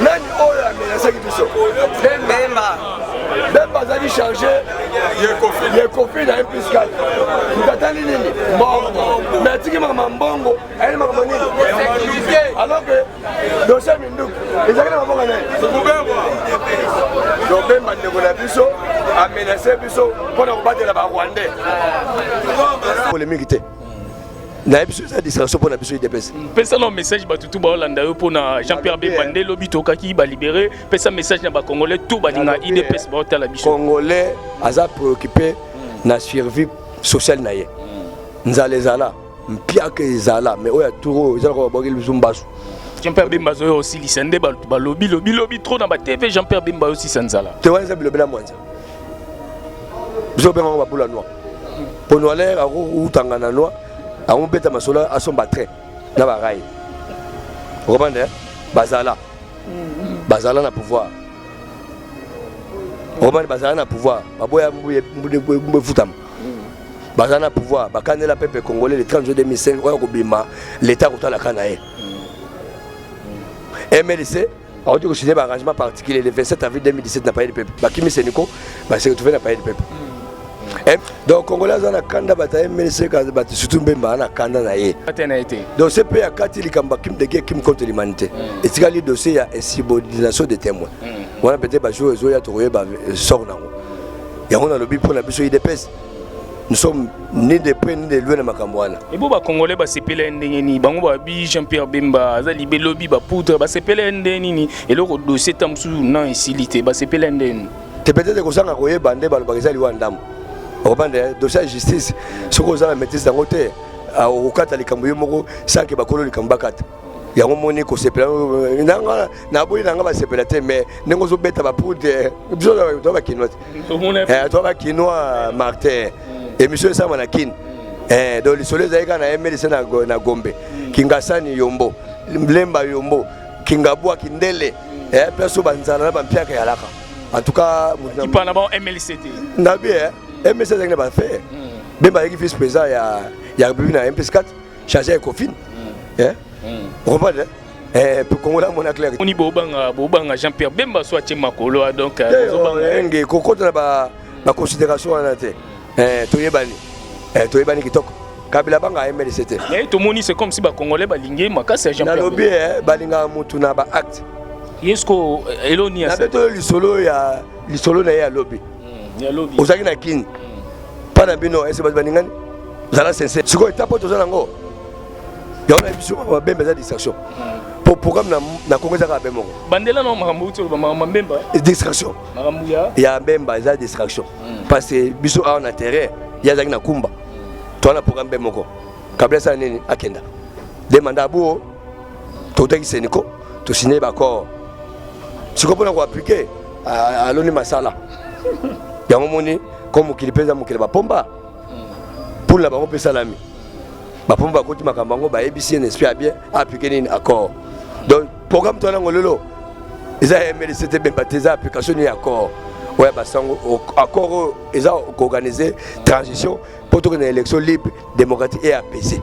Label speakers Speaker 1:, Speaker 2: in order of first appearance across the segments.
Speaker 1: nani oyo amenasaki biso bemba bemba azali charge yekofi na mpiscal mtatali nini mbongo me atiki makambo mbongo ayeli makambo nini alors que dosie minduki ezalaki na mabonga nani donc bemba ndeko na biso amenase biso mpo na kobatela barwandais polemiki te nayebi biso eza distraction mpo na biso idps pesa na message bato
Speaker 2: tu baolanda yo mpo na jean pierre bemba nde lobi tokaki balibere pesa message na bacongolais tu balinga idps baotala biso congolais aza
Speaker 1: préoccupe na survie sociale na ye nzala ezala mpiaka ezala mais oyo aturo oyo ezalaka babwakeli biso mbasu jean-pierre bemba
Speaker 2: azoya osilisa nde balobi lobilobi trop na batv jean-pierre bemba ayosisa nzala te wana eza bilobela mwanza
Speaker 1: biso obenga yango babula noir mpo noiler akowutanga na noir akobeta masolo asomba train na baraye okomande bazala bazala na pouvoir okomande bazala na pouvoir baboya mbu efutama baza na pouvoir bakanela peuple congolais le 30 juin 2005 oyo akobima leta akotalaka na ye mlc awuti kosigne ba arrangement particulier le 27 avril 2017 na palais de peuple bakimi seniko base retrouve na palais de peuple hmm. eh, donc congolais aza na kanda bato ya mlc bato surtout mbemba aza na kanda na ye donc ce mpe akati likambo akim dege kim contre l'humanité hmm. etikali dossier ya insubordination de témoin hmm. wana peut-être bajour ezoya tokoyeba sort nango yango nalobi mpo na biso idps nous sommes ni de près ni de loin na makambo wana ebo bacongolais
Speaker 2: basepela ye ndenge nini bango babi jean pierre bemba aza libe lobi bapoudre basepela ye ndenge nini eloko dossier ta mosusu na esili te basepela ye ndenge nini te peut-être kozanga
Speaker 1: koyeba nde balobaka eza liwa ndambo okobanda eh, dossier ya justice soki oza na maîtrise yango te ah, okokata likambo yo moko sanke bakolo likambo bakata yango moni kosepela nanga naboyi nanga basepela te mais ndenge ozobeta bapoudre biso to bakinois eh, to bakinois martin mm. émission esama na kin mm. eh, donc lisolo ezalaki kaka na mlc na gombe mm. kingasani yombo lemba yombo kingabwa kindele eh, place oyo banzala na bampiaka yalaka en tout cas kipana bango mlc
Speaker 2: te na bi
Speaker 1: mlc ezalaki na bafe be bazalaki vice président ya ya republique na mpskat charge ya kofine eh comprendre eh kongola mona clair oni bobanga
Speaker 2: bobanga Jean Pierre Bemba soit tie makolo ah, donc euh, eh, bobanga oh, nge
Speaker 1: kokota na ba ba considération wana te eh toyebani eh toyebani kitoko kabila banga ayembeli se te mais tomoni c'est comme si
Speaker 2: bacongolais balingi ye makasi ya jean pierre nalobi eh,
Speaker 1: balingaka motu na baacte yesko
Speaker 2: eh, eloni ya nabe toyo lisolo ya
Speaker 1: lisolo na ye ya lobi hmm, ozalaki
Speaker 2: na kini
Speaker 1: mpa hmm. na bino ese bato balingani zala sincère sikoyo etape oyo toza nango yango na biso babembe eza distraction po programme na kongo eza kaka be moko bandela na makambo uti
Speaker 2: oloba makambo mbemba eh? distraction
Speaker 1: makambo ya
Speaker 2: ya mbemba eza
Speaker 1: distraction hmm. parce que biso awa na terrain ye azalaki na kumba hmm. toza na programme be moko kabila asala nini akenda de manda abuo totaki seniko tosigne baaccord sikoyo mpona koaplike aloni masala yango moni ko mokili mpe eza mokili bapomba poule na bango mpe esalami bapombo bakoti makambo yango bayebisi ye nesprit ya bien aplike nini accord donc programme to yango lelo eza ya mlc te bemba te eza application nini accord oyo ya basango accord oyo eza koorganize transition mpo tokende na élection libre démocratique et apaisé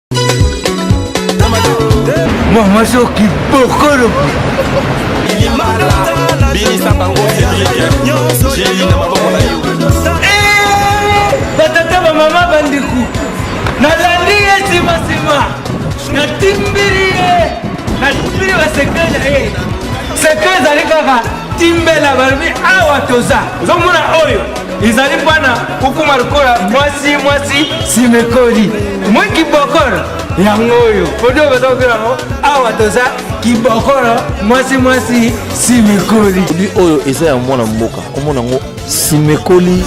Speaker 3: Mama soki bokolo Ilimana binisa bango Cedric Jeli na maboko na yo eh, Batata ba mama bandiku Nalandi ye sima sima Natimbili ye Natimbili ba sekre na ye Sekre ezali kaka timbela balobi awa toza ozomona oyo izali mpo na kokoma lokola mwasi mwasi simekoli mwi kibokolo yango oyo odio baza kobela yango awa toza kibokolo mwasi mwasi simekoli bi oyo eza ya
Speaker 4: mwana mboka komona yango simekoli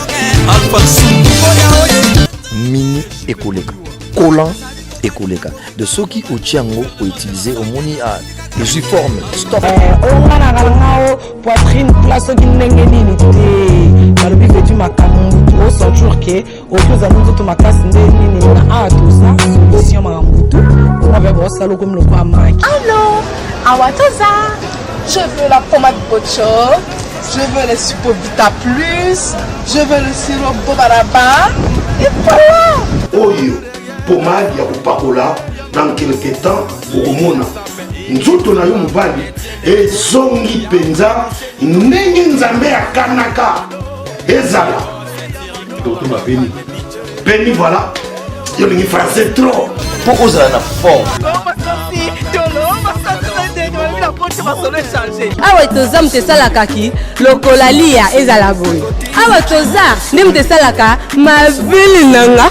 Speaker 4: mini ekoleka kolan ekoleka de soki otie yango outilize omoni ah, ezwi forme stop eh, oyo nga na
Speaker 5: ngalangao poitrine pla soki ndenge nini te balobi vetu makambo osenture ke oki ozali nzoto makasi nde nini na awa toza solution makambo tu oyo mpe bosala okomi lokola maki alo
Speaker 6: awa toza je veux la pommade bocho je veux le supo vita plus je veux le sirop bobaraba et voilà oyo
Speaker 7: pomade ya kopakola dans quelque temps okomona nzoto na yo mobali ezongi mpenza ndenge nzambe akanaka ezala doto bapeni peni voilà yo olingi français trop mpo ozala na
Speaker 4: forme
Speaker 8: awa toza moto esalaka ki lokola liya ezala boye awa toza nde moto esalaka mabele nanga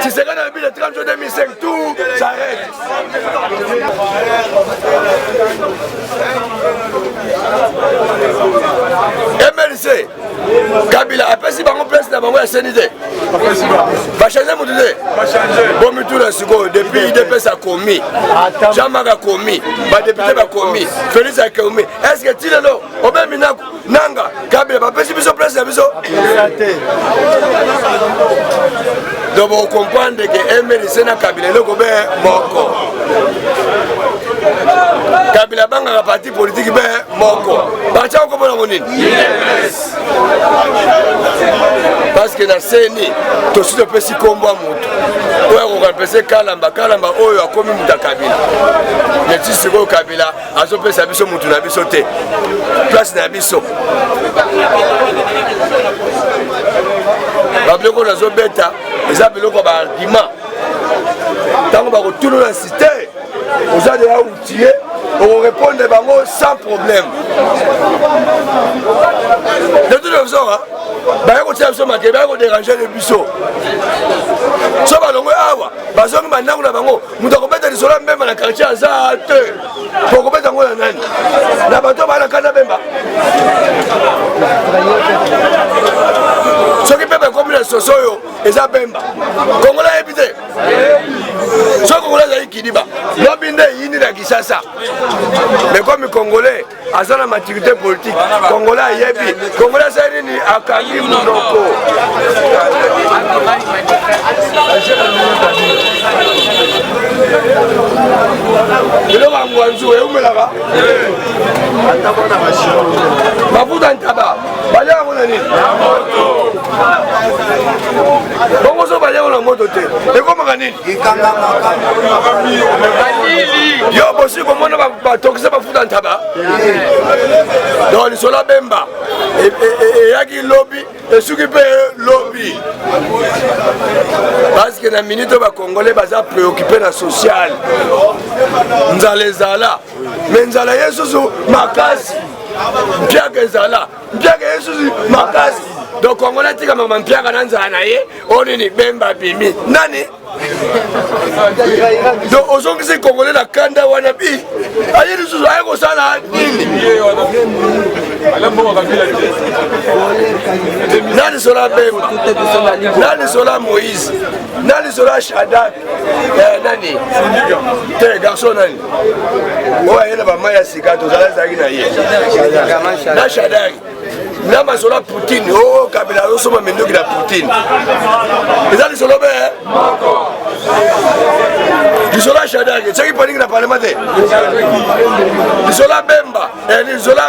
Speaker 1: Tshisekedi alobi le 30 juin 2005 tout s'arrête. MLC Kabila apesi bango place na bango ya seni te bachange motu te bomituna sikoyo depuis idps akomi jamaka akomi badepute bakomi félix akomi est ce que ti lelo obemi nako nanga kabila bapesi biso place na biso donc bokomprendre ke mlc na kabila eloko be moko kabila abangaka parti politiki be moko parti yango komona ngo nini parceke na seni tosi topesi nkombo ya motu oyo akokampese kalamba kalamba oyo akomi moto ya kabila neti sikoyo kabila azopesa biso mutu na biso te place na biso babiloko nazobeta eza biloko baargument ntango bakotuna na site oza deya outille okorepondre bango sans problème de toute façon baya kotia biso makele baya koderange de biso so balongwe awa bazongi bandako na bango moto akobeta lisolo ya mbemba na quartier aza te okobeta yango na nani na bato baa na kati na bemba soki mbemba ekomi na soso oyo eza bemba kongola ayebi te soki kongola ezali kidiba lobi nde eyindi na kisasa mekomi kongole aza na maturité politique congolais ayebi congolais aza nini akangi monoko eloko ya ngwanzu eumelaka mafuta ntaba balia yango na nini bongo so balia yango na moto te ekomaka nini yo bosi komona batokisa bafuta ntaba donc lisolo ya bemba e, e, e, eyaki lobi esuki mpe lobi parceke na minute oyo bakongole baza preocupe na social nzala ezala me nzala ye susu makasi mpiaka ezala mpiaka ye susi makasi donc kongo natika mama mpiaka na nzala na ye oyo nini bemba bimi nani donc ozongisi kongole na kanda wana bi aye lisusu aye kosala nini nani sola bemba nani sola moïse nani sola shadak eh, nani te garçon nani oyo aye na bamai ya sika tozala ezalaki na ye na shadari na masolo ya poutine o kabila azosomba minduki na poutine eza lisolo be eh? lisolo ya shadari soki paningi na parlema te lisolo ya bemba eh, lisolo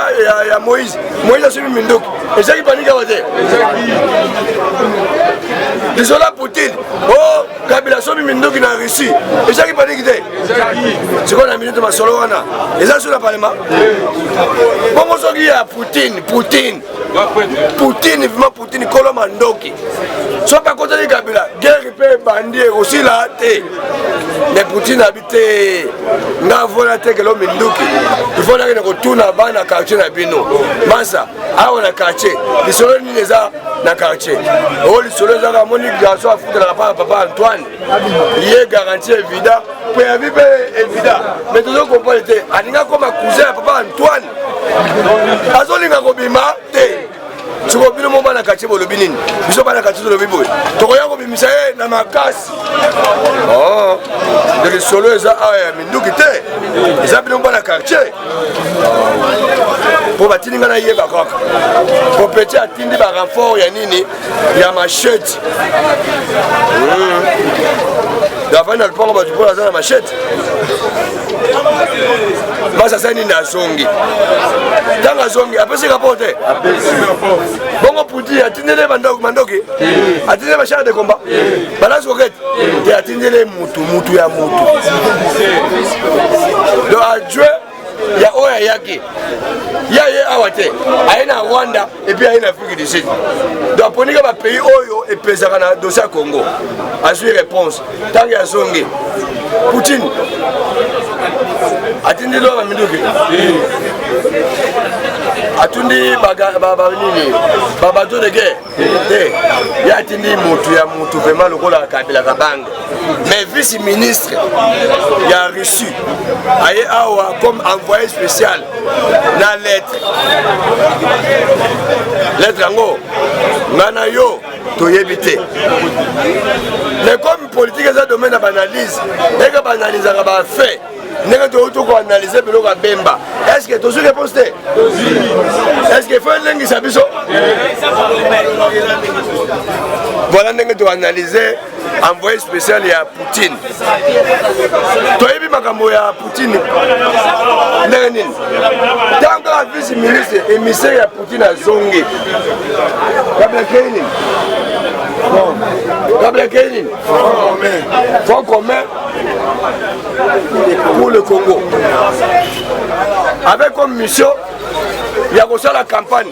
Speaker 1: ya moïse moïse asombi minduki ezaki paningi awa te lisolo ya poutine o oh, kabila somi minduki na russie ezalaki paniki te sikoyo na minute masolo wana eza su na palema bongo soki ya poutine poutine poutine vima poutine kolo mandoki soki akotaki kabila guerre mpe ebandi ekosila te mais poutine te nga vola te kelo minduki ifonaki na kotuna bana quartier na bino masa awa na quartier lisolo nini eza na quartier oyo lisolo ezaka moni garçon afutelaka mpaka papa antoine ye garantie evida mpe ya bibe evida mais tozo comprendre te alinga koma cousin ya papa antoine azolinga kobima te soko bino mo bana katie bolobi nini biso bana katie tolobi boye tokoya kobimisa ye na makasi oh, de lisolo eza awa ah, ya minduki te eza bino bana quartier mpo batindi ngai nayeba kaka mpo peti atindi barenfort ya nini ya machete hmm. davani na lupango bato mpo aza na machete basi asali nini azongi ntango azongi apesi rapport te bongo puti atindele mandoki atindele bashare de combat balance kokete te atindele mutu mutu ya mutu donc ajue ya oyo ayaki ya ye awa te aye na rwanda epuis aye na afrique du sud donc aponika bapays oyo epesaka na dossier ya congo azwi réponse ntango ya zonge poutine atindi loa baminduki atundi nini babato de guerre te ye atindi motu ya motu vraimen lokola kabila kabange mais vice ministre ya russie aye awa comme envoyé spécial na lettre lettre yango nga na yo toyebi te mais comme politique eza domaine ya baanalyse eke baanalysaka bafait ndenge touti koanalyse biloko ya bemba estce tozwi réponse te estce fo elengisa biso voilà ndenge toanalyse envoyé spécial ya poutine toyebi makambo ya poutine ndenge nini ntango kaka vice ministre émissaire ya poutine azongi kabla kei nini kabla kei nini fond commun pour le congo avec comme mission ya kosala campagne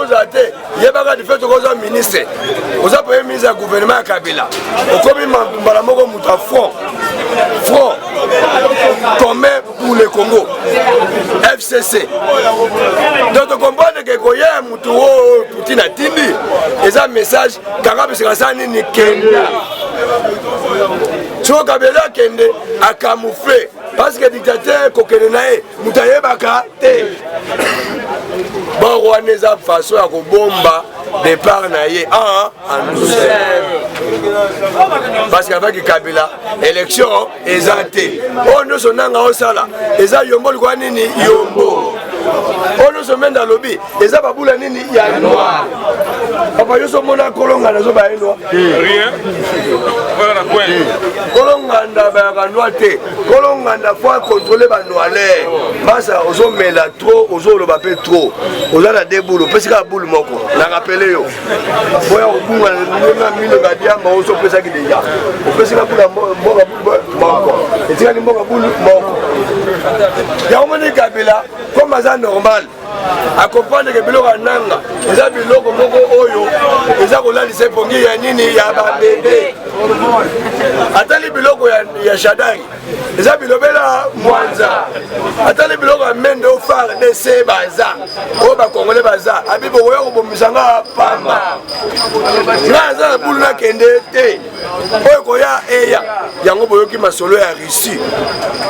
Speaker 1: ozala te yebaka dife soki oza ministre oza premier ministre ya gouvernement ya kabila okomi mbala moko moto ya front front commun pour le congo fcc donc tokomprendre ke koya ya moto oyo putin atindi eza message kanga bisika sa nini kenda soki kabila akende akamoufle parce que dictateur kokende na ye moto ayebaka te bor wana eza façon ya kobomba départ na ye en en douceur parce qu'avec kabila élection eza te oyo nyonso nanga osala eza yombo likoya nini yombo oyo nyonso mende alobi eza babula nini ya noir papa yo somona kolongana zoba ye noir kolonganda bayaka noir te kolonganda fo akontrole banoile basa ozomela trop ozoloba mpe trop oza na de bulu opesi kaka bulu moko nakapele yo boya kobunga ndenge ya milo badiamba osopesaki deja opesi ka bula mboka moko etikali mboka bulu moko yango moni kabila comme aza normal akompandeke biloko ya nanga eza biloko moko oyo eza kolalisa epongi ya nini ya babebe atali biloko ya shadari eza bilobela mwanza atali biloko ya mende o fardc baza oyo bakongole baza abi bokoya kobomisa nga pamba nga aza na bulu nakende te oyo koya eya yango boyoki masolo ya russie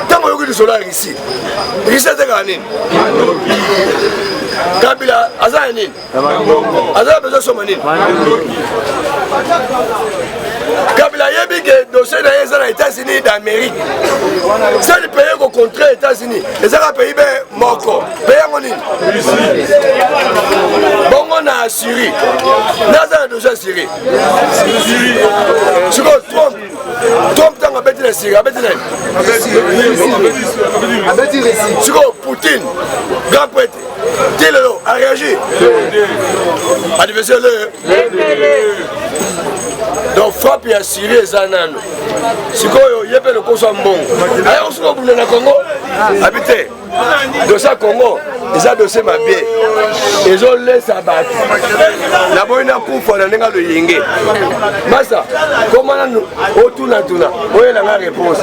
Speaker 1: ntango oyoki lisolo ya russie russie atekaka nini kabila aza ya nini aza ya bezo soma nini kabila ayebi ke dossier na ye eza na états-unis d'amérique sali pays kocontre états-unis ezaka pays be moko pe yango nini bongo na syrie naza na dossier ya syrie sikoyo trump trump ntango abeti na siri abeti na sikoyo poutine grand prêtre ti lelo aréagir adversaire le donc frappe ya syrie eza nano sikoyo ye mpe lokoso ya mbongo aya kosuka bunda na congo abi te dosie ya congo eza dosie mabe ezolesa bato naboyi nakufa na ndenge loyenge masa komana otunatuna oyela nga réponse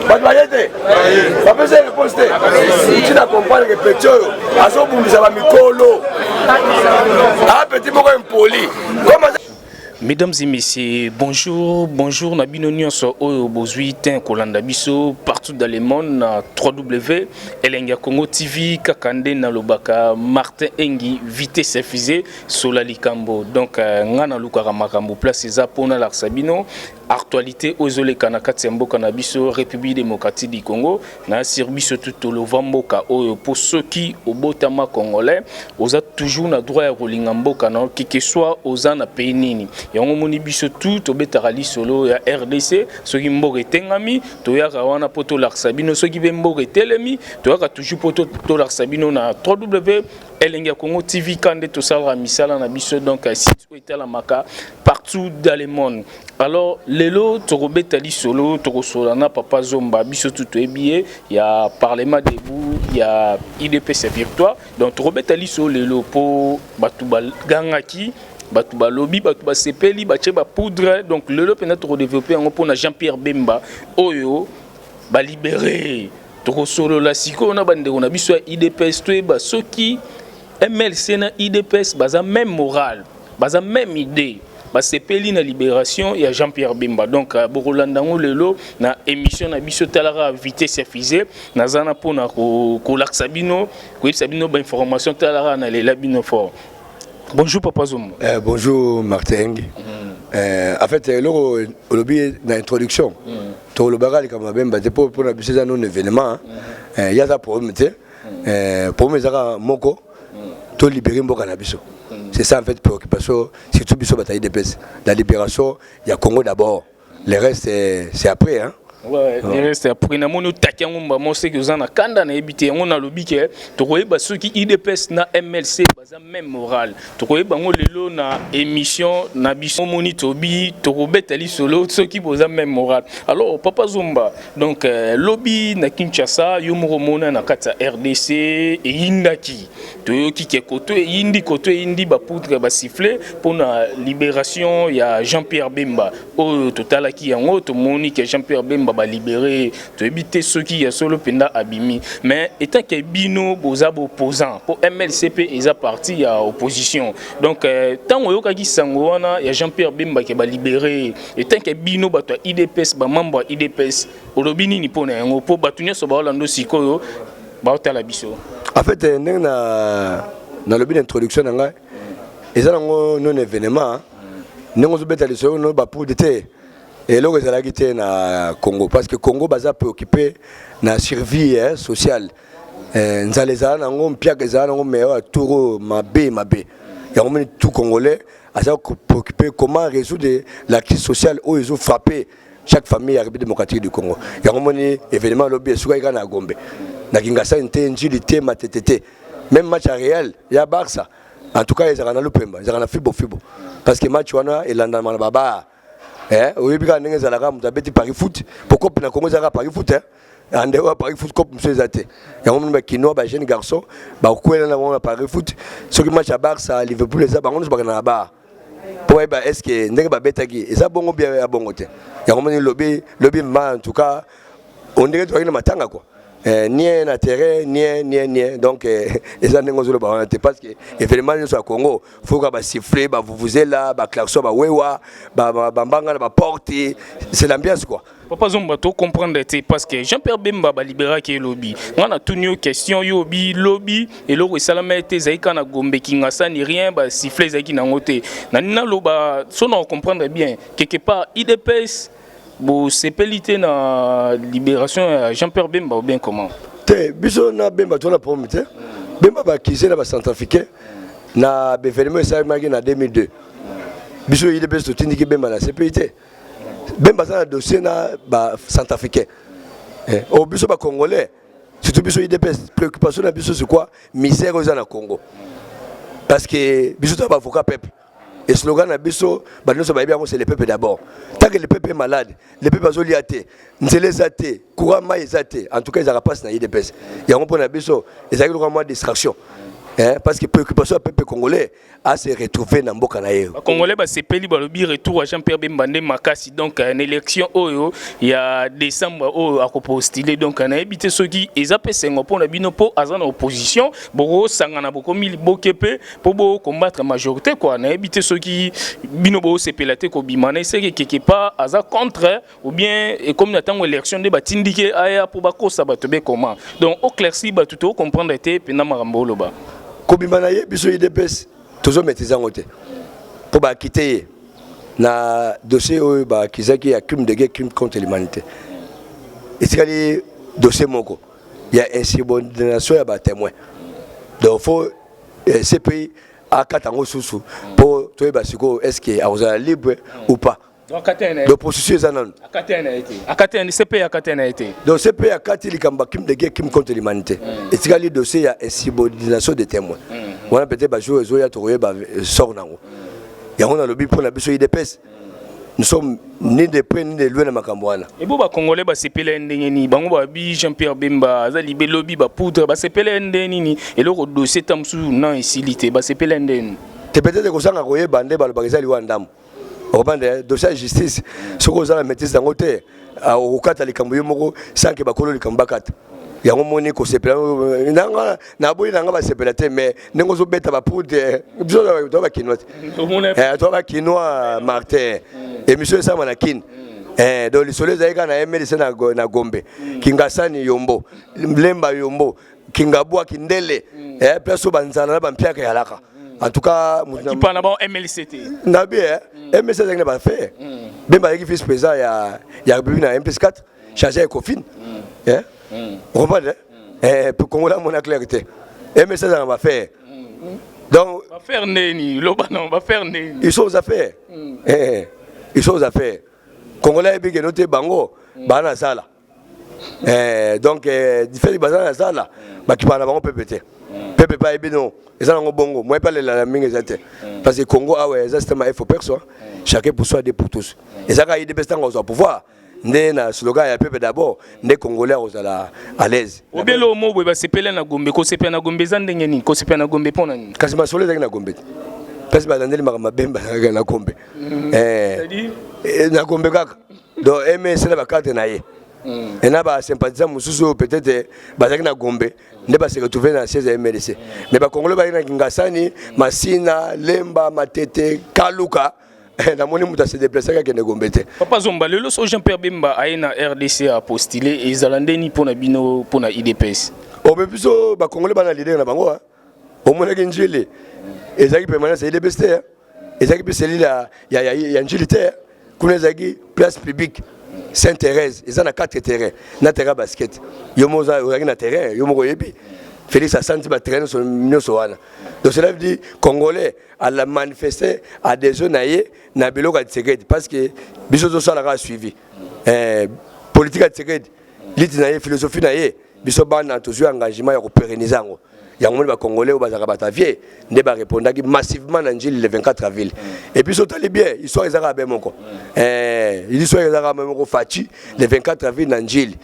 Speaker 1: bato baye te bapesa réponse te uti na comprendre ke peti oyo azobundisa bamikolo apeti moko impoli Mesdames
Speaker 2: et messieurs, bonjour, bonjour na bino nyonso oyo bozui ten kolanda biso partout dans le monde na www.elengia congo tv kaka nde nalobaka Martin Engi vitesse fusée sola likambo donc euh, nga nalukaka makambo place eza mpo nalakisa bino Actualite oyo ezo leka na kati ya mboka na biso Republique Democratique du Congo na sur biso tout tolova mboka oyo po soki obotama congolais oza toujours na droit ya kolinga mboka na que que soit oza na pays nini yango moni biso tout tobetaka lisolo ya RDC soki mboka etengami toyaka wana po tolakisa bino soki pe mboka etelemi toyaka toujours po tolakisa bino na www elenge ya Congo TV kande tosalaka misala na biso donc oyo etalamaka partout dans le monde alors lelo tokobeta lisolo tokosola na papa zomba biso tu toyebi ye ya parlement debout ya idps victoire donc tokobeta lisolo lelo mpo bato bagangaki bato balobi bato basepeli batye bapoudre donc lelo mpenza tokodevelope yango mpo na jean pierre bemba oyo balibere tokosolola sikoyo na bandeko na biso ya idps toyeba soki MLC na IDPS baza même morale, baza même idée. basepeli na libération ya Jean-Pierre Bemba donc euh, bokolanda yango lelo na émission na biso talaka vitesse ya fusée naza na mpona kolakisa bino koyebisa bino bainformation talaka na lela bino fort bonjour papa zomo eh, bonjour martin
Speaker 1: mm. eh, en fait eloko olobi na introduction mm. tolobaka likambo ya bemba te mpo mpona biso eza nona événement mm. eh, ye aza problème te eh, problème eza kaka moko to libere mboka na biso c'est ça en fait préoccupation surtout biso batayi dps la libération ya congo d'abord le reste eh, c'est après hein reste
Speaker 2: après namoni otaki yango mbamo seke oza na kanda nayebi te yango nalobi ke tokoyeba soki udps na mlc Baza meme morale. Tokoyeba yango lelo na emission na biso moni tobi tokobeta lisolo soki boza meme morale. Alors papa Zomba donc euh, lobi na Kinshasa yo moko mona na kati ya RDC eyindaki. Toyoki ke koto eyindi koto eyindi ba poudre ba sifflet pona liberation ya Jean-Pierre Bemba. Oyo totalaki yango tomoni ke Jean-Pierre Bemba ba libere toyebi te soki ya solo mpenza abimi mais etant ke bino boza baopposant mpo mlc mpe eza parti ya opposition donc ntango euh, oyokaki sango wana ya jean pierre bemba ke balibere etant ke bino bato ya idps bamembre ya idps olobi nini mpo na yango mpo bato nyonso baolanda sikoyo baotala biso en fait euh, ndenge
Speaker 1: na nalobi na introduction na ngai eza nango non événement ndenge ozobeta lisolo no bapude te eloko ezalaki te na congo parce que congo baza préoccupé na survie eh, sociale eh, nzala ezala nango mpiaka ezala nango mais oyo turo mabe mabe yango moni tout congolais aza préoccupé comment résoudre la crise sociale oyo ezo frappe chaque famille ya république démocratique du congo yango moni événement lobi esukaki kaka na gombe na kingasani te njili te matete te même match ya real ya barça en tout cas ezalaka na lupemba ezalaka na fibo fibo parce que match wana elandama na babaa Eh, oyebi kaka ndenge ezalaka moto abeti paris foot po cope na congo ezalaka paris foot eh? ande oyo paris foot cope mosusu eza te yango moni bakinois bajeune garçon bakwela na bango na paris foot soki match ya barça liverpool eza bango nyonso bakenda na bar po bayeba estce ndenge babetaki eza bongo bia ya bongo te yango moni lobi lobi ma en tout cas on dirait toyaki na matanga quoi eh, nie na terrain nie nie nie donc eh, eza ndenge ozoloba wana te parce que événement nyonso ya congo foka basiffle bavuvuzela baclarson bawewa bambanga na baporte c'est l'ambiance quoi papa zomba to
Speaker 2: comprendre te parce que jean pierre bemba baliberaki ye lobi ngai natuni yo question yo obi lobi eloko esalama te ezalaki kaka na gombe kingasani rien basiffle ezalaki nango te nani naloba so na comprendre bien quelque part idps bosepeli te na liberation ya jean pierre bemba ou bien comment te biso na
Speaker 1: bemba toza na problème te bemba bakize na bacentrafricain na bevenema esalemaki na 2002 biso yile mpe totindiki bemba na cpi te bemba aza na dossier na bacentrafricain o eh, oh, biso bacongolais surtout biso idps préoccupation na biso c'est quoi misère oyo eza na congo parce que biso toza baavocat peuple eslogan na biso bato nyonso bayebi yango se le peuple d'abord tanke le peuple malade le peuple azolia te nzela eza te courant mai eza te en tout cas ezalaka mpasi na idps yango mpo na biso ezalaki lokola mwa distraction Eh, parce que préoccupation ya peuple congolais a se retrouver na mboka na ye congolais basepeli balobi
Speaker 2: retour ya jean pierre bemba nde makasi donc na élection oyo ya décembre oyo akopostile donc nayebi te soki eza mpe esengo mpo na bino mpo aza na opposition bokosangana bokomi liboke mpe mpo bo combattre majorité quoi nayebi te soki bino bosepela te kobima na eseke quelque part aza contre ou bien ekomi na ntango élection nde batindike aya mpo bakosa bato bekoma donc oclairci bato tokocomprendre te mpenza makambo oloba kobima na ye
Speaker 1: biso idps tozomaîtrise yango te mpo bakite ye na dossier oyo bakizaki ya crime de guerre crime contre l'humanité etikali dossier moko ya insubordination ya batémoin donc faut eh, cpi akata yango susu mpo toyeba sikoyo est ce que akozala libre ou pas donc processus eza nanu cpe
Speaker 2: akati na ye te donc cpe akati
Speaker 1: likambo ya crime de guerre crime contre l'humanité hmm. etikali dossier ya insubordination de témoin hmm, hmm. wana peut-être bajour ezoya tokoyeba eh, sort nango yango nalobi mpo na biso idps nous sommes ni de près ni de loin na makambo wana ebo bacongolais
Speaker 2: basepela ye ndenge nini bango babi jean pierre bemba aza libe lobi bapoudre basepela ye ndenge nini eloko dosie ta mosusu na esili te basepela ye ndenge nini te peut-être kozanga
Speaker 1: koyeba nde balobaka eza liwa ndambo okomanda dosie ya justice soki oza na maîtrise yango te Ah, okokata likambo yo moko sanke bakolo likambo bakata yango moni kosepela nanga naboyi nanga basepela te mais ndenge ozobeta bapoudre biso toa bakinois te eh, toa bakinois martin émission esama na kine Eh, donc lisolo ezalaki kaka na mlc na, na gombe kingasani yombo lemba yombo kingabwa kindele eh peso banzana na bampiaka yalaka en tout cas kipa na bango mlc
Speaker 2: te na bi eh
Speaker 1: mlc azalaki na bafe bemba azalaki vice président ya ya republique na mpes 4 chargé ya ecofine eh okomprendre eh congolais amona claire te mlc azalaka na bafe donc bafaire ndeni
Speaker 2: loba non bafaire ndeni ils sont aux affaires
Speaker 1: eh ils sont aux affaires congolais ayebi keno te bango baa na zala eh, donc eh, difeli baza na zala bakipaka na bango pepe te pepe pa yebi no eza nango bongo moye pa lelala mingi eza te parce que congo awa eza système ya faux personne chacun pour soi de pour tous eza kaka idps ntango azwa pouvoir nde na slogan ya pepe d'abord nde congolais akozala à l'aise obele omo boye basepela
Speaker 2: na gombe kosepela na gombe eza ndenge nini kosepela na gombe mpo na nini kasi masolo ezalaki na gombe te
Speaker 1: kasi balandeli makambo mabe bazalaka na gombe eh, na gombe kaka donc ms na bakarte na ye mm. et na basympathisant mosusu oyo peut-être bazalaki na gombe nde base retrouve na siège ya mlc mais bakongole bayaki na kingasani masina lemba matete kaluka eh, namoni moto ase deplacaki akende gombe te papa zomba lelo so jean
Speaker 2: pierre bemba aye na rdc apostile ezala ndeni mpo na bino mpo na idps obe biso
Speaker 1: bakongole bana lidere na bango omonaki njili ezalaki permanence ya idps te ezalaki mpe selile ya, ya, ya, ya njili te kuna ezalaki place publique saint thérèse eza na 4 terrain na terrain basket yo moko ozalaki na terrain yo moko oyebi Félix asanti ba traîner sur nyoso wana. Donc cela veut dire congolais à la manifester à des zones ailleurs na biloko ya Tshisekedi parce que biso zo sala ka suivi. Eh politique ya Tshisekedi liti na ye philosophie na ye biso bana tozwi engagement ya koperenise yango yango moni bacongolais oyo bazalaka bato ya vie nde barepondaki massivement na njili le 24 avril et puis sotali bien histoire ezalaka be moko eh, histoire ezalaka be moko faci le 24 avril na njili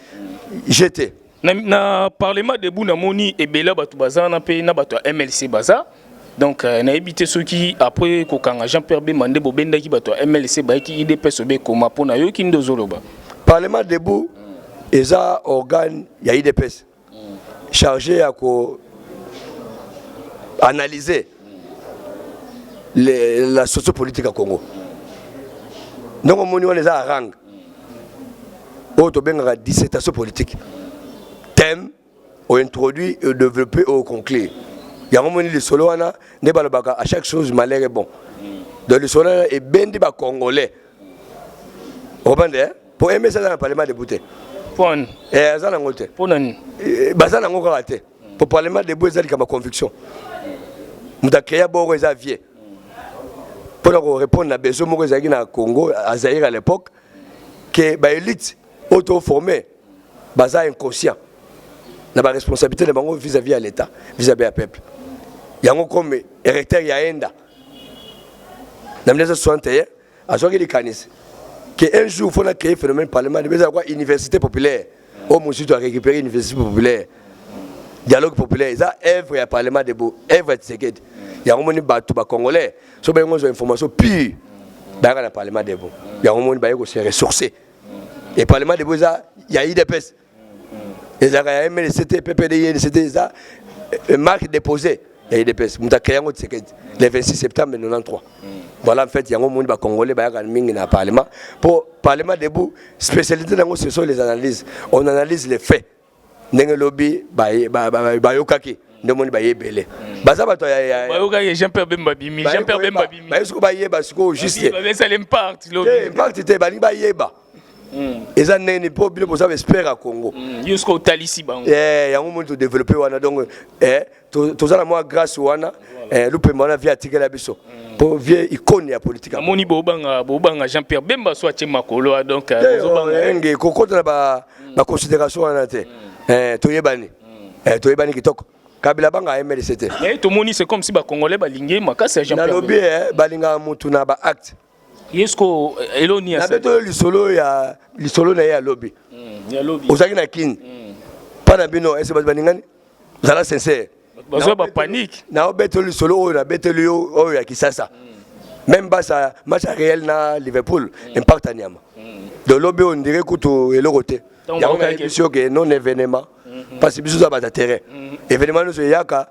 Speaker 1: jete na, na
Speaker 2: parlement debout namoni ebele ya bato baza wana mpe na bato ya mlc baza donc euh, nayebi te soki après kokanga jean pierre bemba nde bobendaki bato ya mlc bayaki idps obe ekoma mpo na yoki nde ozoloba parlement debout eza
Speaker 1: organe ya idps chargé ya ko analyser le, la sociopolitique ya congo ndenge omoni wana eza arange oyo tobengaka dissertation politique thème o introduit o developper o conclure yango moni lisolo wana nde balobaka à chaque chose malheur est bon donc lisolo wana ebendi ba congolais obande hein? po ms aza na parlement debout te eh, aza nango te eh, baza nango kaka te po parlement debout eza likambo ya conviction moto akrea boko eza vie mpo na korépondre na besoin moko ezalaki na congo azaire à l'époque que ba elite oyo to former baza inconscient na ba responsabilité na bango vis-à-vis -vis ya l'État, vis-à-vis ya peuple. Yango comme recteur ya Enda na 1961 azwaki likanisi que un jour faut na créer phénomène parlement, eza quoi université populaire oyo mosusu to arecupere université populaire dialogue populaire eza œuvre ya parlement debout œuvre ya tisekedi yango moni bato bacongolais so bayengo ozwa information pure bayaka na parlement debout yango moni baye kose ressource e parlement debout eza ya idps ezalaka ya mlc te ppd inc te eza euh, marque déposée ya udps moto akreye yango tshisekedi le 26 septembre 93 voilà en fait yango omoni bacongolais bayaka mingi na parlement mpo parlement debout spécialité na yango ce sont les analyses on analyse les faits ndenge elobi bayokaki nde omoni baye ebele baza bato bayokaki jean pierre bemba
Speaker 2: bimi jean pierre bemba bimi baye sikoyo bayeba sikoyo
Speaker 1: juste
Speaker 2: impact te balingi
Speaker 1: bayeba Mm. eza ndenge nini mpo bino boza baespere ya congo mm. yo soki otalisi
Speaker 2: bango eh, yango moni todeveloppe
Speaker 1: wana donc eh, toza na mwa grâce wana eh, lupemba wana vie atikela biso mpo mm. vie icone ya politike amoni bobanga
Speaker 2: bobanga jean pierre bemba so atie makolo ah, donc eh, oh, enge
Speaker 1: kokota na baconsidération wana te toyebani toyebani kitoko kabila banga mlc te tomoni c'est comme si
Speaker 2: bacongolais balingi makasi ya jean pierre nalobi
Speaker 1: balingaka motu na baacte yesko
Speaker 2: elo ni asabe to lisolo ya
Speaker 1: lisolo na ye ya lobi mm, ya lobi ozaki
Speaker 2: na kin
Speaker 1: mm. pa na bino ese bato baningani zala sincère bazwa ba panique
Speaker 2: na obeto lisolo
Speaker 1: oyo na beteli yo oyo ya kisasa mm. même basa match réel na liverpool mm. impact ya nyama mm. de lobi on dirait kutu eloko te yango kayebisi yo ke non événement mm-hmm. parce biso za bata terrain mm-hmm. événement nyonso eyaka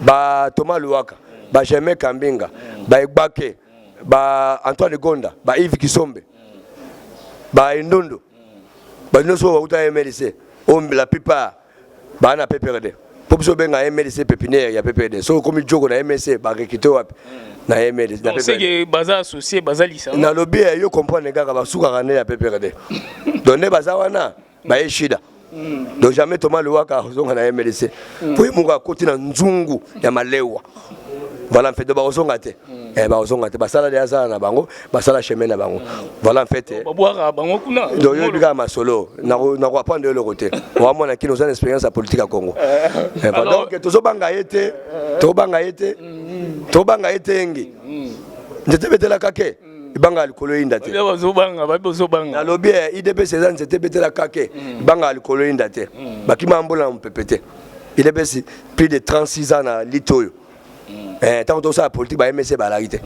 Speaker 1: ba Thomas Luwaka ba Germain Kambinga ba Egbake ba Antoine Gonda ba Yves Kisombe ba Endondo ba nyonso bauta MLC oyo oh, la plupart baa na PPRD mpo biso obenga MLC pépinière ya PPRD soki okomi joko na MLC barekite wapi na MLC na PPRD baza
Speaker 2: associé baza lisanga nalobi eh, yo comprendre
Speaker 1: kaka basukaka nde ya PPRD donc nde baza wana baye shida donc jamais toma lewaka akozonga na mlc po ye moko akoti na nzungu ya malewa voilà mpe donc bakozonga te eh, bakozonga te basala deya sala na bango basala chemin na bango voilà en fait babwaka bango kuna
Speaker 2: donc yo bika masolo
Speaker 1: nako nako apprendre eloko te wa mwana kino oza na expérience ya politique ya Congo eh, donc tozo banga ye te to banga ye te to banga ye te engi nzete betelaka ke banga ya likolo eyinda te nalobi ya eh, idps eza nzete ebetela kake mm. banga ya likolo eyinda te mm. bakima mbola na mopepe te idps plus de 36 ans na lite oyo mm. eh, ntango tosala politike ba msc balaki te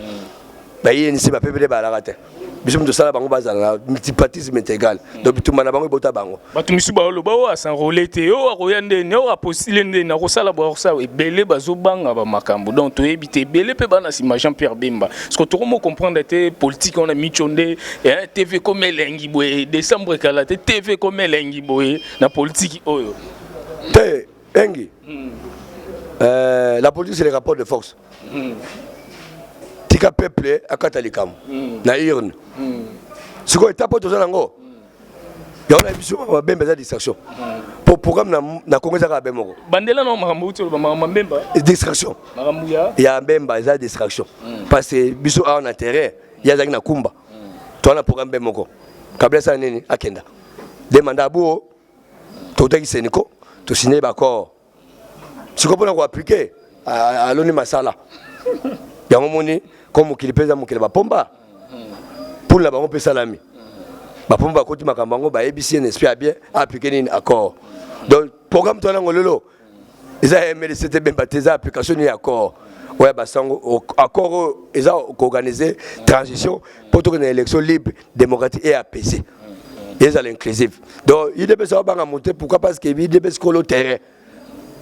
Speaker 1: bayenisi bapepele balaka te biso tosala bango bazala na multipartisme integral donc bitumba na bango ebota bango bato misusu baoloba oyo
Speaker 2: asenrole te oyo akoya ndeni oyo apostile ndeni akosala boakosala ebele bazobanga bamakambo donc toyebi te ebele mpe bana nsima jean pierre bemba siko tokomo comprendre te politike wana mico nde eh, tv ekomi elengi boye décembre ekala te tv ekomi elengi boye na politiki oyo te
Speaker 1: engi hmm. euh, la politique c'est le rapport de force hmm. tika peuple akata likambo hmm. na urne sikoyo etape oyo toza nango yango na biso makambo ya bemba eza distraction po programme na kongo eza kaka be moko bandela na makambo uti
Speaker 2: oloba makambo ya mbemba distraction
Speaker 1: makambo ya ya
Speaker 2: mbemba eza
Speaker 1: distraction hmm. parce que biso awa na terrain ye azalaki na kumba hmm. toa na programme be moko kabila asala nini akenda de manda aboo totaki seniko tosigne baaccord sikoyo mpona koaplike aloni masala yango moni ko mokili mpe eza mokili bapomba mpula na bango mpe esalami bapomba bakoti makambo yango bayebisi ye nesprit ya bien aplike nini accord donc programme to yango lelo eza ya mlc te bemba te eza application nini ya accord oyo ya basango accord oyo eza koorganize transition mpo tokende na élection libre démocratique et apaisée ezala inclusive donc udps aobanga mote pourquoi parce que udps kolo terrain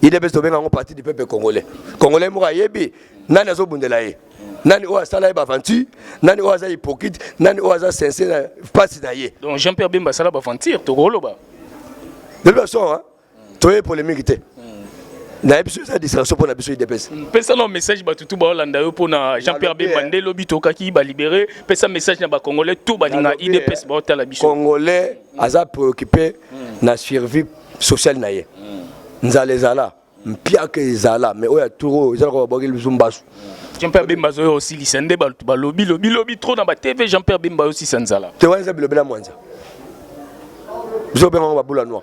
Speaker 1: udps tobenga yango parti du peuple congolais congolais moko ayebi nani azobundela ye nani oyo asala ye baventure nani oyo aza hypocrite nani oyo aza sense na mpasi na ye donc jean pierre bemba asala
Speaker 2: baventure tokoloba lobi
Speaker 1: baso toye polemique te na biso eza distraction mpo na biso idps mm, pesa na message bato
Speaker 2: tu baolanda yo mpo na jean pierre bemba nde lobi tokaki balibere pesa message na bacongolais to balinga idps eh, baotala biso congolais aza
Speaker 1: préoccupe mm. na survie sociale na ye mm. nzala ezala mpiaka ezala mais oyo ya tour oyo ezalaka babwaki biso mbasu jean pierre bemba
Speaker 2: azoya osilisa nde balobi lobi lobi trop na batv jean pierre bemba osilisa nzala te wana eza bilobela mwanza
Speaker 1: biso obengango babula noir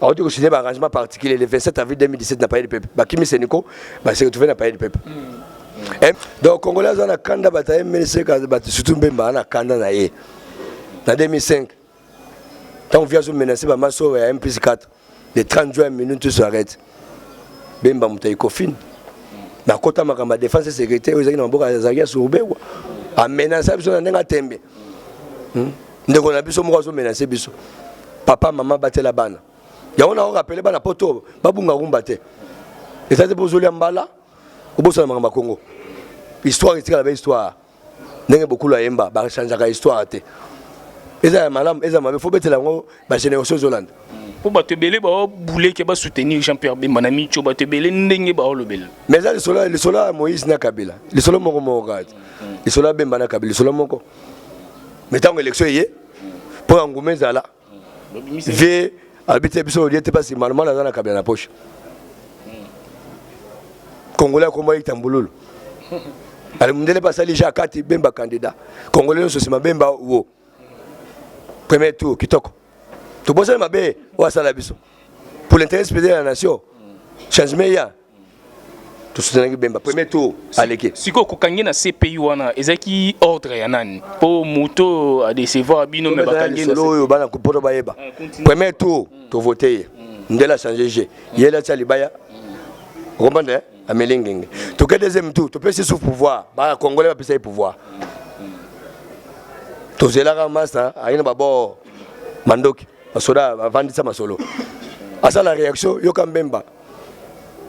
Speaker 1: awuti kosigne baarrangement particulier le 27 avril 2017 na palais du peuple bakimi seniko base retrouve na palais du peuple mm. eh, donc congolais aza na kanda bato ya mlc bato surtout mbemba aza na kanda na ye na 2005 ntango vi azomenace bamaso ya mplus 4 le 30 juin minute tous arrête bemba moto ya ekofine nakota makambo ya défense et sécurité oyo ezalaki na maboko azalaki ya surbewa amenace biso na ndenge atembe hmm? ndeko na biso moko azomenase biso papa mama batela bana yango na orapele bana poto babunga rumba te eza te mpo ozolia mbala obosana makambo ya kongo histoire etikala ba histoire ndenge bokulu ayemba bachangeaka histoire te eza ya malamu eza mabe fo betela yango ba génération ezolanda mpo bato ebele
Speaker 2: baobuleke basoutenir jean pierre bemba na mico bato ebele ndenge baolobela mais eza lisolo lisolo
Speaker 1: ya moïse na kabila lisolo moko moko kaka te lisolo ya bemba na kabila lisolo moko mais ntango élection eye mpo ya nguma ezala vie alobi te biso olie te mpasi manomano aza na kabila na poche congolais akomba yekita mbululu ale mundele basali ja kati bemba candidat congolais nyonso nsima bemba wo premier tour kitoko tobosani mabe oyo asala biso pour l'intérêt supérieur ya nation changement eya tosutenaki bemba premier tour aleki sikoyo kokangi na
Speaker 2: cpi wana ezalaki ordre ya nani mpo moto adecevoir bino me bakangi na oyo bana poto bayeba
Speaker 1: ah, premier tour tovote ye ndele achange je ye lati ya libaya okomprendre ameli ngenge toke deuxième tour topesi sous pouvoir ba congolais bapesa ye pouvoir tozelaka masta aye na babor mandoki basoda bavandisa masolo asala réaction yoka mbemba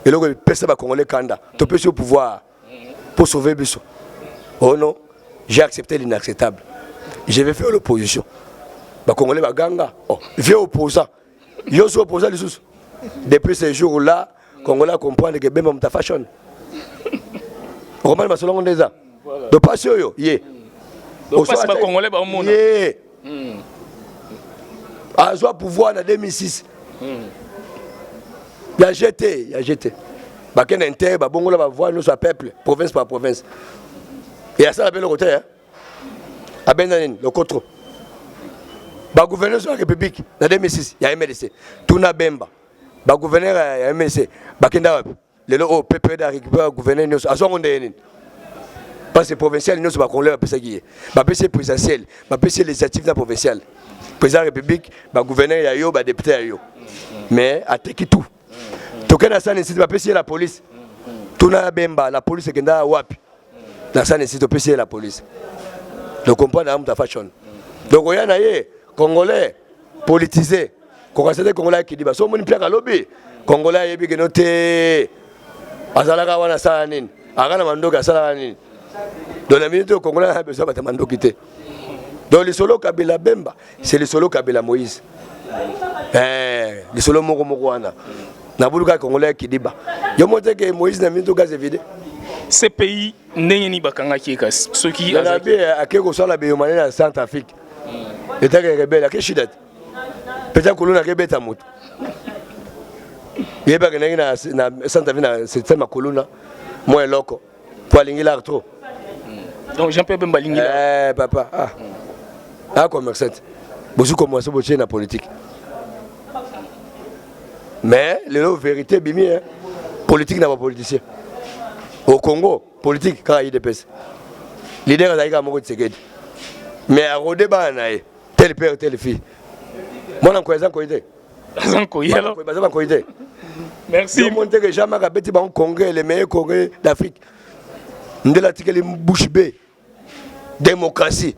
Speaker 1: eloko epesa bacongolais kanda topesi yo pouvoir mpo sauve biso oh non j'ai accepté l'inacceptable je vais faire l'opposition bacongolais baganga oh, vieux opposant Yo so posa lisusu. Depuis ce jour là, Congolais a comprendre que Bemba muta fashion. Roman masolongo ndeza. Donc pas yo ye. Donc pas
Speaker 2: ba Congolais ba omona. Ye.
Speaker 1: Hmm. Azwa pouvoir na 2006. Hmm. Ya jeté, ya jeté. Bakenda inter, babongola ba voix nous à peuple, province par province. Et à ça la belle côté hein. abenda nini lokotro bagouverneur ya république na 2006 ya mlc tuna bemba bagouverneur ya mlc bakenda wapi lelo oyo ppd arécupère gouverneur nyonso azwango ndeye nini parce provincial nyonso bakonglais bapesaki ye bapesi ye présidentiel bapesi ye législative na provincial président ya république bagouverneur ya yo badepute ya yo mais ateki tout toke na sane site bapesi ye la police tuna ya bemba la police ekenda wapi na sane site opesi ye la police donc comprendre amuta fashion donc oya na ye congolais politise kokasa te congolais akidiba so omoni mpiaka lobi congolais ayebi keno te azalaka wana asala nini aka na mandoki asalaka nini donc na minute oyo congolais abesoin bata mandoki te donc lisolo kabila bemba c'est lisolo kabila moïse eh, lisolo moko moko wana nabuluka congolais ya kidiba yo moko te ke moïse na minito gaz evide cpi
Speaker 2: ndenge nini bakangaki ye kasi soki nabi eh, ake kosala
Speaker 1: beyomane na centre afrique etaka rebele ake shida te peta kolona ake beta moto yebaki ndenge na centre afrique na septembre kolona mwa eloko po alingi lar trop donc
Speaker 2: jean pierre bemba alingi eh, papa ah.
Speaker 1: Mm. ah commerçant bozwi komoise botie na politique mais lelo vérité ebimi hein. politique na bapoliticien au congo politique kaka idps lider azalaki kaka moko tisekedi mais arode bana na ye tele père tele fille mwana nkoya eza nkoyi te baza nkoyi alors baza bankoyi te merci omoni te ke jean marc abeti bango congrès le meilleur congrès d'afrique ndele atikeli bouche be démocratie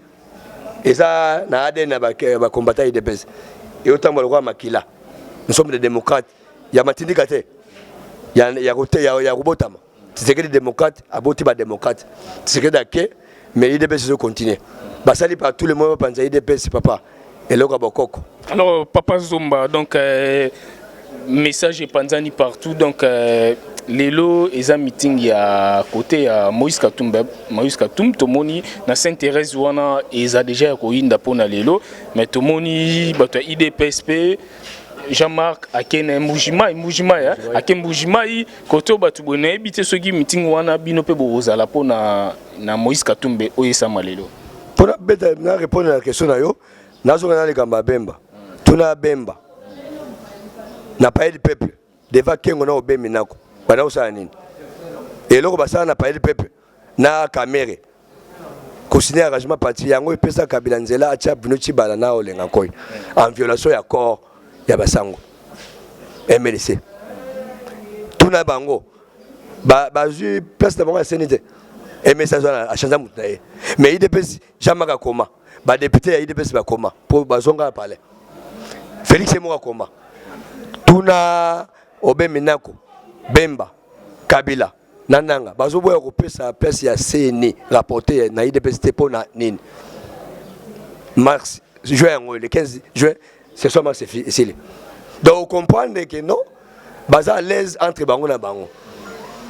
Speaker 1: eza na adn ya bacombatant ya idps eyotambola lokola makila nous sommes des démocrates ya matindika te ya kobotama Tshisekedi démocrate aboti ba démocrate. Tshisekedi ake mais UDPS ezo continuer. Basali par tous les moyens bapanza UDPS papa. Eloko ya bokoko. Alors papa
Speaker 2: Zomba donc euh, message epanzani partout donc euh, lelo eza meeting ya kote ya moïse katumbi moïse katumbi tomoni na saint thérèse wana eza deja ya koyinda mpona lelo mais tomoni bato ya idps mpe jean-marc ake na mbujimai mbujimai ake mbujimai Koto bato boye nayebi te soki mitingi wana bino mpe bokozala mpo na, na Moïse Katumbe oyo esama lelo. Mpo na beta
Speaker 1: na repondre na question na yo, nazonga na likambo ya Bemba. Tuna ya Bemba na Palais du Peuple devant Kengo na Obembi Nako banda kosala nini? Eloko basala na Palais du Peuple na kamere kosine arrangement parti yango epesa kabila nzela atia bino cibala na olenga nkoi en violation ya corps ya basango mlc tuna bango bazwi ba place na bango ya seni te mlc azwa achange motu na ye mais idps jamaka akoma badepute ya idps bakoma mpo bazonga palais felix ye moko akoma tuna obe minako bemba kabila na nanga bazoboya kopesa place ya cni rapporte na idps te mpo na nini mars juin yango le 15 juin ce soit mars esili donc comprendre que non baza à l'aise entre bango na bango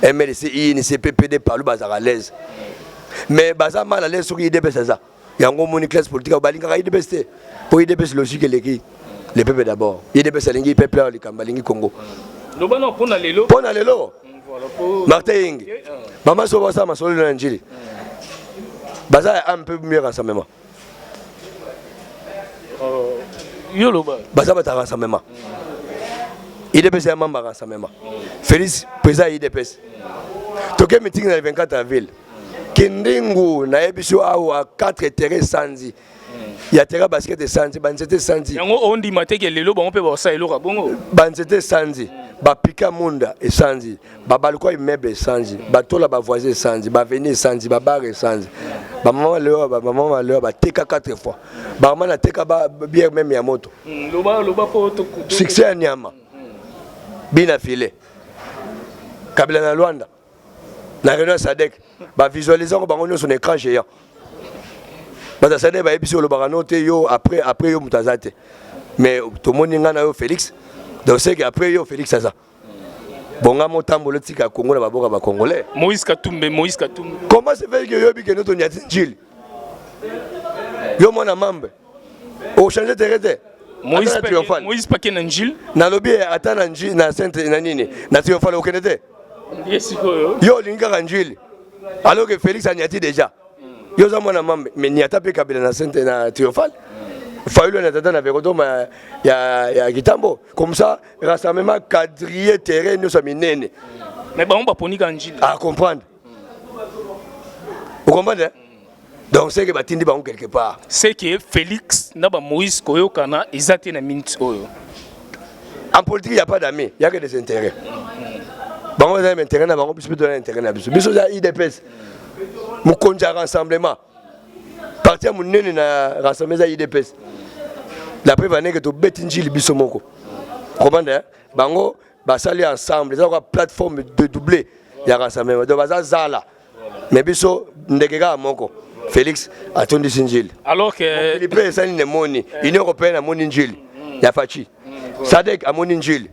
Speaker 1: mlc inc ppd palu bazalaka à l'aise mais baza mal à l'aise soki idps aza yango omoni classe politique ayo balingaka idps te mpo idps logique eleki le peuple d'abord idps alingi peuple ayo likambo alingi congo loba na mpo na
Speaker 2: lelo mpo na lelo
Speaker 1: mm, martin yingi eh, ah. mama so basala masolelo na njili baza ya ame mpe mieux rassemblement
Speaker 2: oh, yo loba baza bata
Speaker 1: rassemblement idps ya mamba rassemblement félix président ya idps toke meeting na le 24 avril kindingu nayebisi yo awa 4 etere esanzi ya tera basket esanzi banzete esanzi yango ondima te ke
Speaker 2: lelo bango mpe baosala eloko ya bongo banzete esanzi
Speaker 1: bapika munda esanzi babalkwa immeuble esanzi batola bavoisin esanzi baveni esanzi babare esanzi bamama leo bamama maleo bateka 4 fois bamama nateka biere meme ya moto mm,
Speaker 2: succès ya nyama
Speaker 1: bina file kabila na lwanda na réunion ya sadek bavisualise yango bango nyonso na écran géant bato ya sadek bayebisi olobaka no te yo après après yo moto aza te mais tomoni ngai na yo félix donc seke après yo félix aza bonga motambola otika kongo na baboka bacongolais moïse katumbe moïse
Speaker 2: katumbe comment se
Speaker 1: fait que yoyebi kende tonyati njili yo mwana mambe ochange tere te
Speaker 2: moïse pake na njile nalobi ata
Speaker 1: na nji na sainte na nini na triomphale okende te yo olingi kaka njuile alors que félix anyati déjà yo oza mwana mambe mais niata mpe kabila na sente na triomphale fayulu na tata na vekotoma ya, ya kitambo comme ça rassemblement quadrille terrain nyonso ya minene mais bango
Speaker 2: baponi kaka njili acomprendre
Speaker 1: ah, okomprendre eh? donc seke batindi bango quelque part seke félix
Speaker 2: na bamoïse koyokana eza te na minute oyo
Speaker 1: en politique ya pas d'ami yake des intérêts bango baza na intérêt na bango biso mpe toza na intérêt na biso biso oza idps mokonzi ya rassemblement parti ya monene na rassemblement eza idps la preuve aneke tobeti njili biso moko comprendre bango basali ensemble eza kaka plateforme de double ya rassemblement donc baza zala mais biso ndeke kaka moko Felix atondisi njili alors que lipe
Speaker 2: esali ne moni
Speaker 1: union européenne amoni njili ya Fachi Sadek amoni njili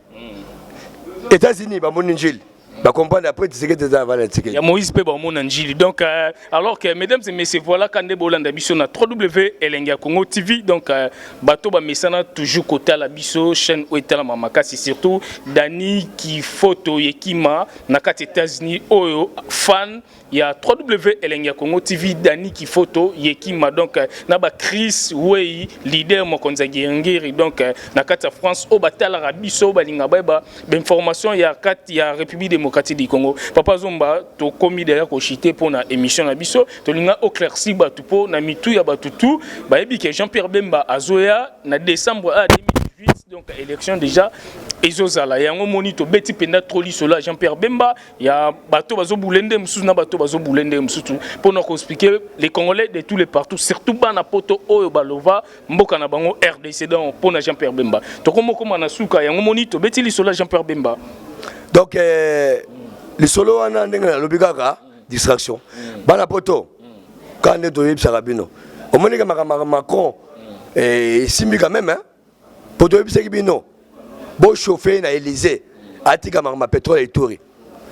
Speaker 1: États-Unis bamoni njili ba comprendre après Tshisekedi eza avala Tshisekedi ya Moïse pe bamona
Speaker 2: njili donc euh, alors que mesdames et messieurs voilà kande bolanda biso na www elenge ya Congo TV donc euh, bato bamesana toujours kotala biso chaîne oyo etalama makasi surtout Dani Kifoto Yekima na kati États-Unis oyo fan ya 3W Elenge ya Congo TV Dani Kifoto Yekima donc euh, na ba Chris Wei leader mokonzi ya Ngiri donc euh, na kati ya France oyo batalaka biso balinga bayeba bainformation ya kati ya République démocratique du Congo Papa Zomba tokomi deja koshite mpo na émission na biso tolinga oclairci bato mpo na mitu ya bato tu bayebi ke Jean-Pierre Bemba azoya na décembre a ah, 2018 donc élection déjà ezozala yango moni tobeti mpenza tro lisolo ya jean pierre bemba ya bato bazobule nde mosusu na bato bazobule nde mosusu mpona koexplike les congolais de tous les partout surtout bana poto oyo balova mboka na bango rdc donc mpona jean pierre bemba tokomokoma na suka yango moni tobeti lisolo ya jean pierre bemba donc eh,
Speaker 1: lisolo wana ndenge nalobi kaka distraction mm. bana poto kaka nde toyebisaka bino omonike makambo macron eh, esimbi quand même hein? mpo toyebisaki bino bochauffe na elysee atika makambo ya petrole ya ituri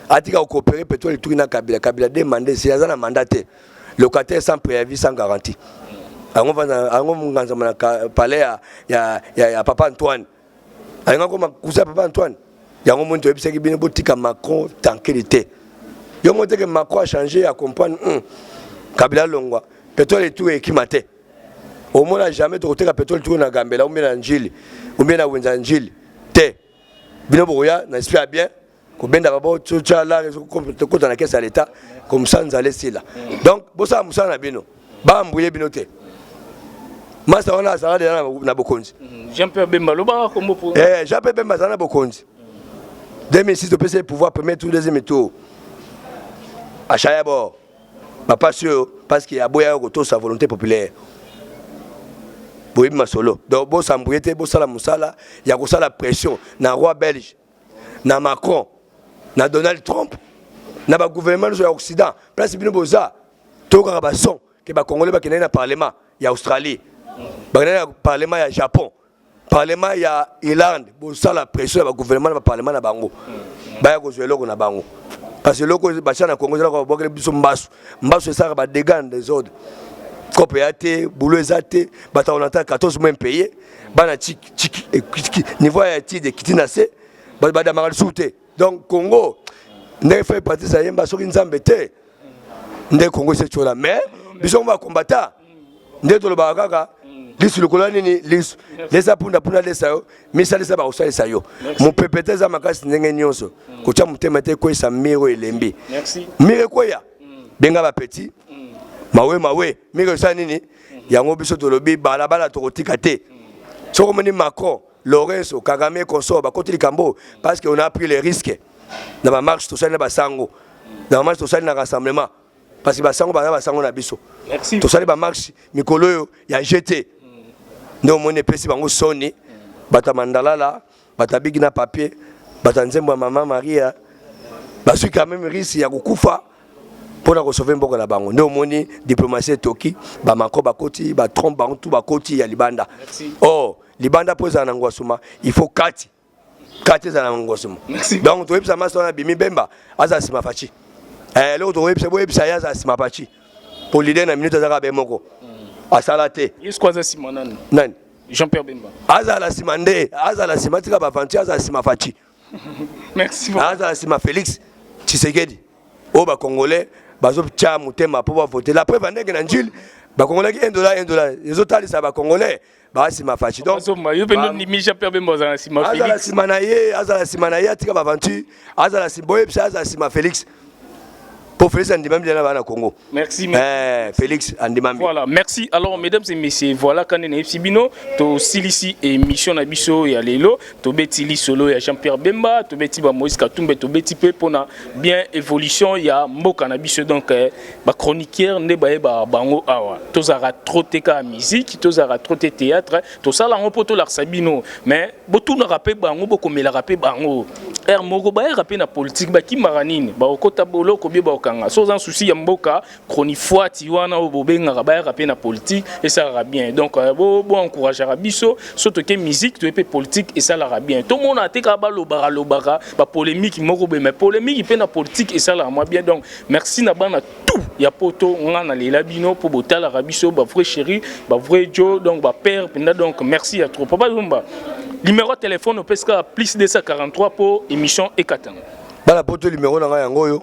Speaker 1: atika kokopere petrole ya ituri na kabila kabila de manda esili aza na manda te locataire sans préavis sans garantie yango nganzama na palais ya, ya, ya, ya papa antoine alinga koma kusa papa antoine yango moni toyebisaki bino botika macron tankeli te yo moteke macron achange ya comprendre hmm. kabila alongwa petrole etu ekima te omona jamais tokoteka petrole tuku na gambela ombie na njili ombie na wenza njili te bino bokoya na esprit ya bien kobenda babo totya lare ekota na kese ya leta komsa nzala esila donc bosala mosala na bino baambuye bino te masa wana azala deja na bokonzi mhm. jean pierre bemba
Speaker 2: lobaka kombo po eh, jean pierre bemba azala na
Speaker 1: bokonzi 2006 topesi ye pouvoir premier tour deuxième tour achaya bord bapasi oyo parceke aboyaka kotosa volonté populaire boyebi masolo donc bosambuye te bosala mosala ya kosala pression na roi belge na macron na donald trump na bagouvernement nyonso ya occident place bino boza toyokaka bason ke bacongolais bakendaki na parlement ya australie bakendaki na parlement ya japon Parlement ya Irlande bosala pression ya ba gouvernement na ba parlement na bango baya kozwa eloko na bango parce que eloko basha na Congo ezala kwa bokele biso mbasu mbasu esaka ba dégâts na désordre kope ya te boulot eza te bato ya olanta 14 mois impayé bana niveau ya étude ekiti na se badamaka lisusu te donc congo ndenge fai patrice ayemba soki nzambe te nde congo esetyola mais biso ngo bakombata nde tolobaka kaka lisu lokola nini lisu lesa punda punda lesa yo misalisa bakosalisa yo mopepe te eza makasi ndenge nyonso kotya motema te ekweyisa mire oyo elembi mire ekweya benga bapeti mawe mawe mire osala nini yango biso tolobi balabala tokotika te soki omoni macron Lorenzo, Kagame, consort bakoti likambo parce que on a pris les risques na ba marche tosali na basango na ba marche tosali na rassemblement parce que basango baza basango na biso tosali ba
Speaker 2: marche
Speaker 1: mikolo oyo ya GT nde omoni epesi bango soni bato ya mandalala bato ya bigi na papier bato ya nzembo ya mama maria bazwi quand même risque ya kokufa mpo na kosove mboka na bango nde omoni diplomatie etoki bamako bakoti batrompe bango tu bakoti ya libanda or oh, libanda mpo ezala na ngwasuma il faut kati kati ezala na ngwasuma donc toyebisa masi wana bimi bemba azala nsima faci eh, eloko tokoyebisa boyebisa ye azala nsima faci mpo lider na minute azalaka be moko hmm. asala te yesu aza nsima
Speaker 2: nani nani jean
Speaker 1: pierre bemba
Speaker 2: azala nsima nde
Speaker 1: azala nsima tika baventure azala nsima faci
Speaker 2: azala nsima
Speaker 1: félix tshisekedi oyo bacongolais bazotya motema mpo bavote la preuve andenge na njili bakongolaki 1 dollar 1 dollar ezotalisa bakongolais ba sima fachi donc azomba yo pe ni mija
Speaker 2: pe bemba za sima Felix azala sima na ye azala
Speaker 1: sima na ye atika ba aventure azala sima boye psa azala sima Felix pour Félix Andimambi là bas Congo. Merci. Eh,
Speaker 2: Félix
Speaker 1: Andimambi. Voilà, merci. Alors
Speaker 2: mesdames et messieurs, voilà quand on est Sibino, to silisi émission na biso ya lelo, to beti lisolo ya Jean-Pierre Bemba, to beti ba Moïse Katumbe, to beti pe pona bien évolution ya mboka na biso donc eh, ba chroniqueurs nde baye ba bango awa tozalaka trop te kaka musique tozalaka trop te théâtre tosala yango mpo tolakisa bino mais botunaka mpe bango bokomelaka mpe bango r moko bayaka mpe na politike bakimaka nini bakokota boloko bie bakokanga so oza na susi ya mboka chronifuati wana oyo bobengaka bayaka mpe na politique esalaka bien donc euh, boencourageaka biso so toke musique toye mpe politique esalaka bien tomona te kaka balobaka lobaka bapolémiki moko boye mais polémiki mpe na politique esalaka mwa bien donc merci na bana tout ya poto ngai nalela bino mpo botalaka biso bavrai chéri bavrai jo donc bapère mpenza donc merci ya trop papa lumba numéro ya telefone opesi kaka plus 243 mpo émission ekatana bana poto
Speaker 1: numéro na ngai yango oyo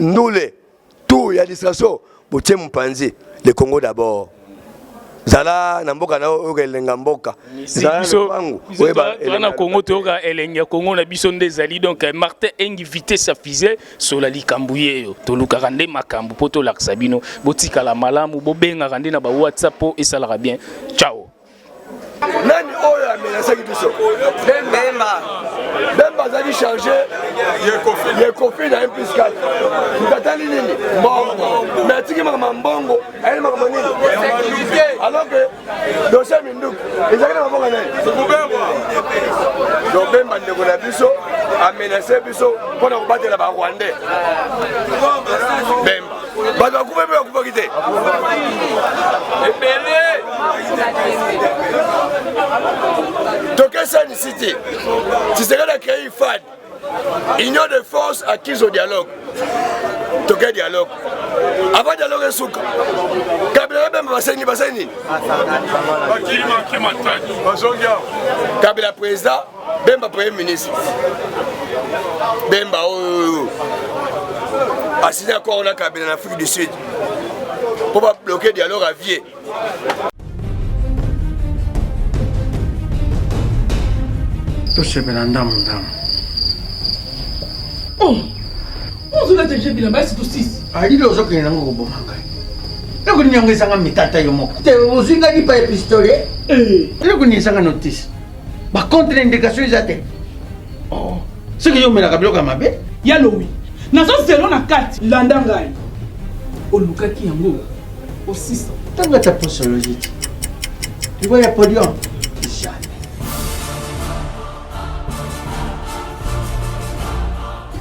Speaker 1: ndule tour ya distraction botie mopanzi le congo d'abord zala na mboka na yo oyoka elenga mboka
Speaker 2: na congo toyoka elengi ya congo na biso nde ezali donc eh, martin engi vitesse ya fise sola likambo yeyo tolukaka nde makambo mpo tolakisa bino botikala malamu bobengaka nde na ba whatsapp mpo esalaka bien ciao
Speaker 1: nani oyo amenasaki biso bemba bemba azali charge yekofi na mpiscal mtatali nini mbongo me atiki makambo mbongo ayeli makambo nini alors que dosie ya minduki ezalaki na mabonga nani donc bemba ndeko na biso amenase biso mpo na kobatela barwandais bemba bato bakufa mpe bakufaki te ebele tokesanisi te tisekedi akrei ifad union de force acquise au dialogue toke dialogue avant dialogue esuka kabila babemba basengi basali nini kabila président Bemba premier ministre. Bemba oyo asili accord na Kabila na Afrique du Sud mpo ba bloquer dialogue à vie.
Speaker 9: tosepela ndambo ndambo
Speaker 5: oh, alili ah, ozokende nango
Speaker 9: koboma ngai eloko nini yango ezanga mitata yo moko te ozwi ngai lipa ya pistole eh. eloko nini ezanga notise ba contre indication eza te oh. soki yo omelaka biloko ya mabe ya lowi
Speaker 5: nazo zelo na kati landa ngai olukaki yango osisa ntango ata
Speaker 9: posoloji ti liwa ya podium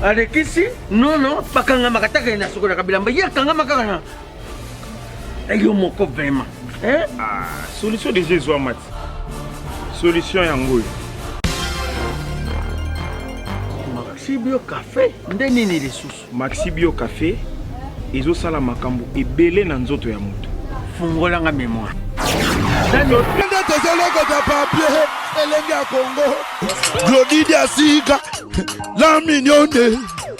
Speaker 9: alekisi nono bakangamaka taka ye na sokolaka bilamba ye akangamaka na Eh, yo moko vraiment eh? ah,
Speaker 10: solution déjà ezwama ti solution yango oyo
Speaker 9: maxibio café nde nini lisusu maxibio café
Speaker 10: ezosala makambo ebele na nzoto ya moto fungolanga
Speaker 9: memoire nde tozolokota
Speaker 7: papie elenge ya kongo glodidi asika la mignone